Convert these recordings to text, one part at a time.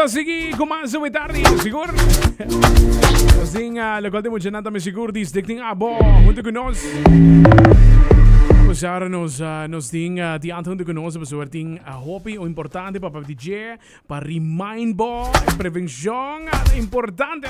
Sigi kuma su witardi sigur. Sin uh, lo cual te mucho nanta me sigur dis de tin abo junto con nos. Pasar nos uh, nos tin uh, di anto junto con nos pasar tin uh, hopi o importante para DJ para remind bo prevención uh, importante.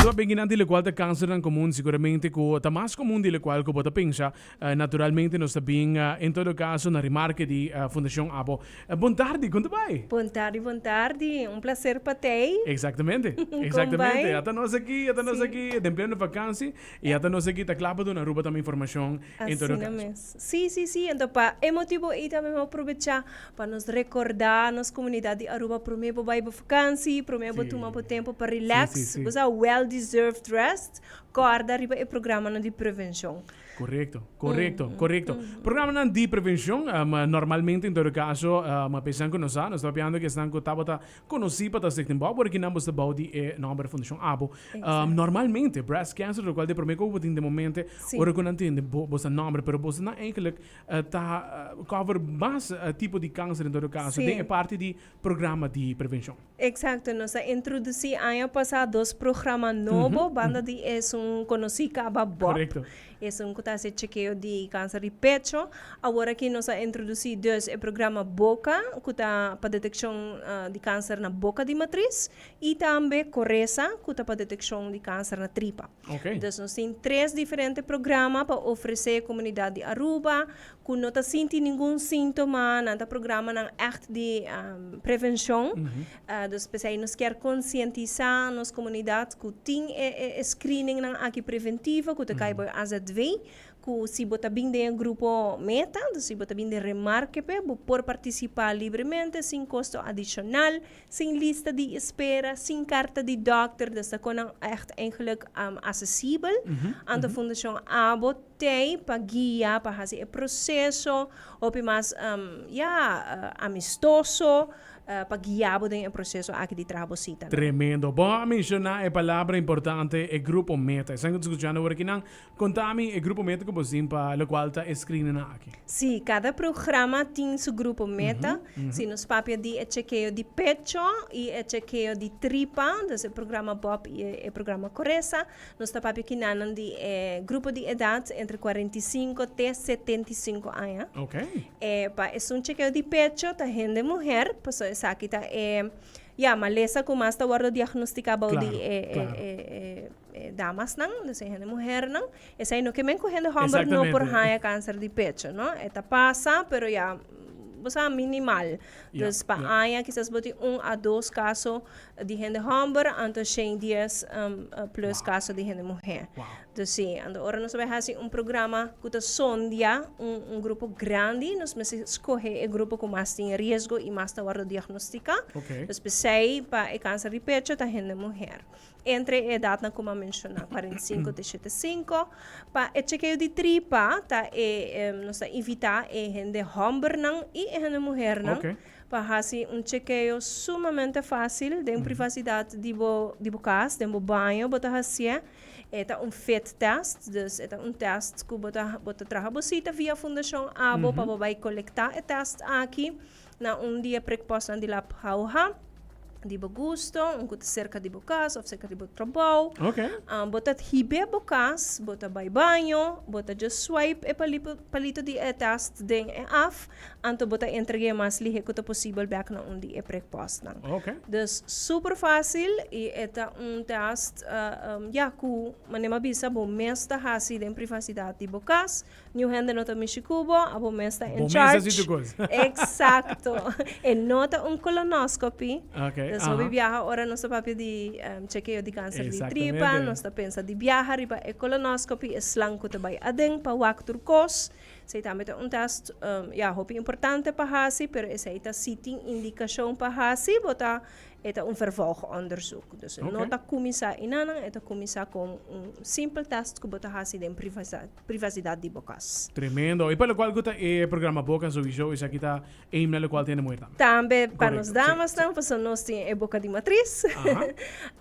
Zo bengi nanti lo cual te cáncer nan común seguramente ku ta mas común di lo cual ku bota pensa Naturalmente nos ta bin en todo caso na remarke di Fundacion Abo. Bon tardi, con ta bay? Bon tardi, bon tardi. Un placer pa tey. Exactamente, exactamente. Ya ta nos aki, ya ta nos aki den pleno vakansi y ya ta nos aki ta cla pa duna Aruba tambe informacion en todo caso. Asina mes. Si, si, si. Enton pa e motibo ey tambe bo a probecha pa nos recorda nos comunidad di Aruba prome bo bay bo vakansi, prome bo tuma bo tempo pa relax. Bo sa, well deserved rest. Corda riba e programanan di prevencion. Korekto, korekto, korekto. Programanan di prevenshon, normalmente en todo kaso, p'e esnan ku no sa, nos ta papiando ku esnan ku tabata konosí pa ta Stigtenbosch, pero ki nan bo sta bou di e nòmber di Fundashon Abo. Normalmente, breast cancer lokual di e promé kos ku bo tin den momente, ora ku nan tende bo sa nòmber, pero boso nan eigentlik ta cover mas tipo di kanser en todo kaso den e parti di programa di prevenshon. Eksakto, nos a introdusí aña pasá dos programa nobo, banda di esun konosí kaba bop, esun ku ta hasi chekeo di kanser di pecho. Awor aki nos a introdusí dus, e programa boka, ku ta pa detekshon di kanser na boka di matris, i tambe Koresa, ku ta pa detekshon di kanser na tripa. Dus nos tin tres diferente programa pa ofresé komunidat di Aruba ku no ta sinti ningun síntoma, nan ta programanan ègt di prevenshon. Dus p'esei nos kier konsientisá nos komunidat ku tin e e screeningnan aki preventivo ku ta kai bo e azv, ku si bo ta bin den e grupo meta, si bo ta bin den remarkepe, bo por partisipá libremente sin kosto adishonal. Sin lista di espera, sin karta di dòkter desha kon nan ègt eigenlik asesibel. Anto Fundashon Abo t'ei pa guia, pa hasi e proseso hopi mas, ya, amistoso, pa guia bo den e proseso aki di traha bo sitanan. Tremendo. Bo a menshoná e palabra importante, e grupo meta. Esnan ku ta skuchando awor aki nan Konta mi e grupo meta ku bo tin pa lokual ta e screenenan aki. Sí, kada programa tin su grupo meta. Si nos papia di e chekeo di pecho i e chekeo di tripa, entonces e programa Bob i e programa Koresa, nos ta papia kina nan di e grupo di edat entre kuarenta i sinku te setenta i sinku aña. Ok. E pa esun chekeo di pecho ta hende muher, paso esaki ta e, ya, malesa ku mas ta wòrdu diagnostiká bou di e, e, e, e. damasnan, lo siña hende muhernan, esei no ke men ku hende hòmber no por haña kanser di pecho, no. E ta pasa, pero ya bo sa minimal. Dus pa aña kisas bo tin un a dos kaso di hende hòmber, anto shen dies plus kaso di hende muher. Dus si, anto ora nos bai hasi un programa ku ta sondia un grupo grandi, nos mester skohe e grupo ku mas tin riesgo i mas ta wòrdu diagnostiká. Dus p'esei pa e kanser di pecho ta hende muher. entre e edadnan cu m'a menciona, cuarenta y cinco te shete cinco. Pa e chekeo di tripa ta e, em, nos ta invita e hende hombernan y e hende muhernan Ok. pa haci un chekeo sumamente fácil den privacidad di bo, di bo cas, den bo baño bo ta hacié. E ta un fit test, dus e ta un test cu bo ta, bo ta traha bo cita via Fundacion Abo pa bo bay colecta e test aki. Na un di e prekpòstnan di lap hauha di bo gusto, un ku ta serka di bo kas òf serka di bo trabou. Okay. Ah, bo ta hib'é bo kas, bo ta bai baño, bo ta just swipe e palipo, palito di e test den e app, anto bo ta entreg'é mas lihe ku ta posibel bèk na un di e prekpòstnan. Okay. Dus super fásil i e ta un test, ah, ya, ku manera m'a bisa bo mes ta hasi den privasidat di bo kas. Niun hende no ta mishi ku bo, a bo mes ta en charge. Eksakto. E no ta un kolonoskopi. Nos hopi biaha ora nos ta papia di chekeo di kanser di tripa, nos ta pensa di biaha riba e kolonoskopi, e slang ku ta bai aden pa wak tur kos. Esei tambe ta un tèst, ya, hopi importante pa hasi, pero esei ta si tin indikashon pa hasi, bo ta, e ta un vervolgondersuk. Dus e no ta kuminsá einan nan, e ta kuminsá kon un simpel tèst ku bo ta hasi den privasidad. privacidad di bo cas. Tremendo. E pa locual cu ta e programa Boca Zoey Show, esaki ta e himna locual tene muher tambe. Tambe pa nos damasnan, pasobra nos tin e boca di matris.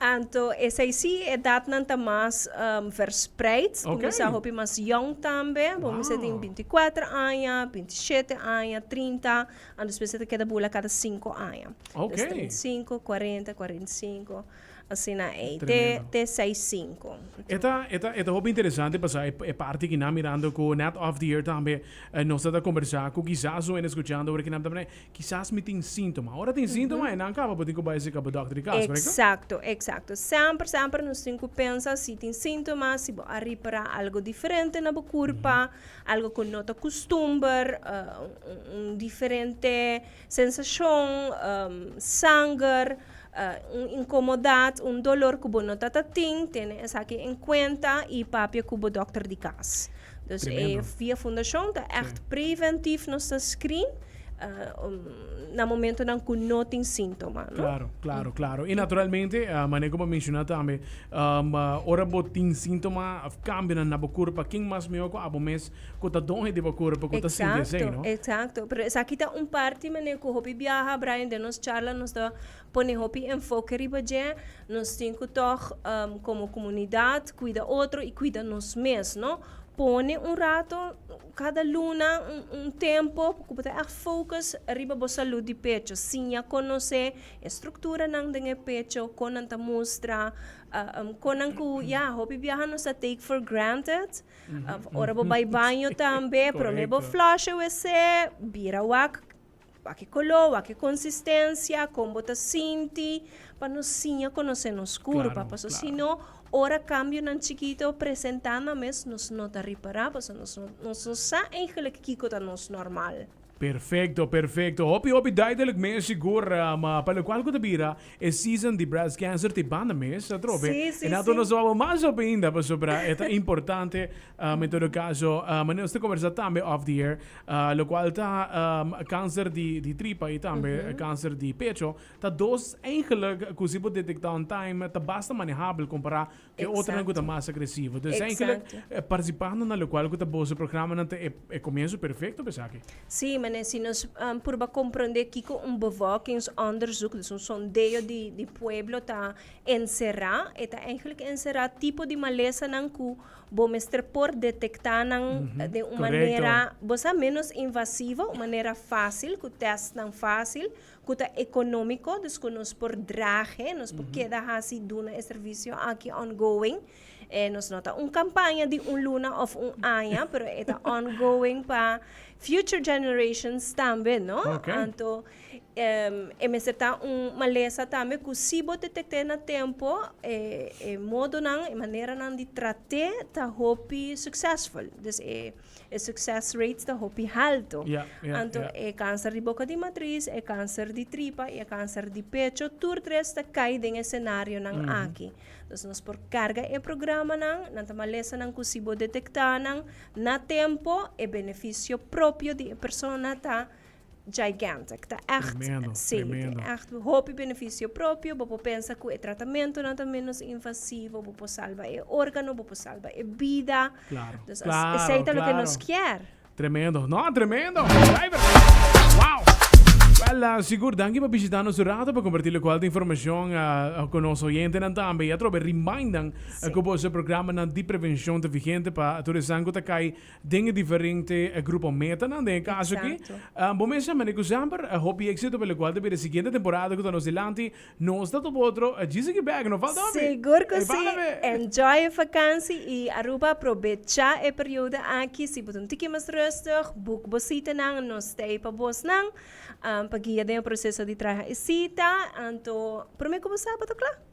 Anto esey si e edadnan ta mas verspreid. Cu mi sa hopi mas yong tambe. Bo mester tin binti i kuater aña, binti i shete aña, trinta, anto despues e ta keda bula cada sinku aña. Des trinta i sinku, kuarenta, kuarenta i sinku. Asina ei, te, te seis sinku. E ta, e ta, e ta hopi interesante pasá e, e parti ki nan mirando ku nèt off the air tambe nos a ta kombersá ku kisas un a eskuchando ober ku nan ta mira kisas mi tin síntoma. Ora tin síntoma e nan kaba bo tin ku bai sika bo dòkter di kas, korekto? Eksakto, eksakto. Semper, semper nos tin ku pensa si tin síntoma, si bo a ripará algu diferente na bo kurpa, algu ku no ta kustumber, un, un diferente. Sensashon, sanger, un inkomodat, un dolor ku bo no ta ta tin, tene esaki en kuenta i papia ku bo dòkter di kas. Dus e Via Fundashon ta ègt preventiv, nos ta screen na momentunan ku no tin síntoma. Klaro, klaro, klaro. I naturalmente, mané ku bo a menshoná tambe, ora bo tin síntoma òf kambionan na bo kurpa, ken mas mihó ku abo mes Cu ta don hende bo cura pacu ta sinti esey, no? Exacto, exacto. Pero esaki ta un parti, meneer, cu hopi biaha, Brian, den nos charla nos ta pone hopi enfoke riba dje. Nos tin cu tog, um, como comunidad, cuida otro y cuida nos mes, no? Pone un rato cada luna, un, un tempo cu bo ta echt focus riba bo salud di pecho. Siña conoce e structuranan den e pecho, con nan ta mustra, um, con nan cu, ya, hopi biaha nos ta take for granted. Of ora bo bai baño tambe, prome bo flush e wc, bira wak, wak e color, wak e consistencia, con bo ta sinti, pa no siña conoce nos cur, Claro, pasobra claro. sino ora cambionan chikito presenta nan mes nos no ta repara, pasobra nos no nos no sa eigenlijk kico ta nos normal. Perfecto perfecto hopi hopi duidelijk mes sigur ma pa locual cu ta bira e season di breast cancer te banda mes atrobe Sí, sí, enato sí. nos ta wawba mas hopi ainda pasobra e ta importante um, en todo caso um, nos ta conversa tambe off the air uh, locual ta um, cancer di di tripa y tambe cancer di pecho ta dos eigenlijk cu si bo detecta on time ta basta manehabel compara e otronan ku ta mas agresivo. Entonces, eigenlijk Exacto. participando na locual ku ta boso programanan ta e, e comienzo perfecto pa esaki. Sí, meneer, si nos um, purba comprende kiko un bevolkingsonderzoek, dus un sondeo di, di pueblo ta encerrá, e ta eigenlijk encerrá tipo di malesanan ku bo mester por detectá nan eh, den un Correcto. manera, bo sa, menos invasivo, un manera fácil, ku testnan fácil, cu ta economico, dus cu nos por drage, nos por keda haci duna e servicio aki ongoing. Eh, nos no ta un campaña di un luna of un aña, pero e ta ongoing pa future generations tambe, no? Okay. Anto, em, e mester ta un malesa tambe cu si bo detecte na tempo, e, e modonan, e maneranan di trate ta hopi succesful. Dus e. e succes rates ta hopi halto. Yeah, yeah, Anto yeah. e cáncer di boca di matriz, e cáncer di tripa y e cáncer di pecho, tur tres ta cai den e scenario nan mm. aki. Dus nos por carga e programa nan, nan ta malesa nan cu si bo detecta nan na tempo, e beneficio propio di e persona ta Gigantic, ta echt, tremendo, sí, tremendo. ta echt hopi beneficio propio, bo por pensa cu e tratamentonan ta menos invasivo, bo por salva e órgano, bo por salva e bida. Claro, Dus as- claro, esei ta lo que claro. nos kier. Tremendo, no, tremendo. Driver. Wow. Wel, ah, sigur, danki pa bishita nos un rato pa compartir lo cual de informacion ah, ah, con nos oyentenan tambe. Y atrobe, remindan ah, Sí. cu boso programanan di prevencion ta vigente pa tur esan cu ta cay den e diferente grupo metanan. Den e kaso aki, bo mes a mende ku semper hopi éksito palokual ta bira e siguiente temporada ku ta nos dilanti. Nos ta topa otro djisiki bèk, no falta hopi. Sigur ku si! Enjoy e vakansi i Aruba aprobechá e periodo aki. Si bo ta un tiki mas rustig, buk bo sitanan. Nos stay pa bosnan pa guia den e proseso di traha e sita. Anto promé ku bo sa bo ta kla.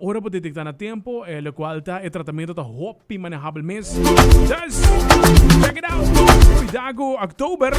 Ora bo detektá na tempo e lokual ta e tratamentu ta hopi manehabel mes. Dùs check it out! Kuidá ku October!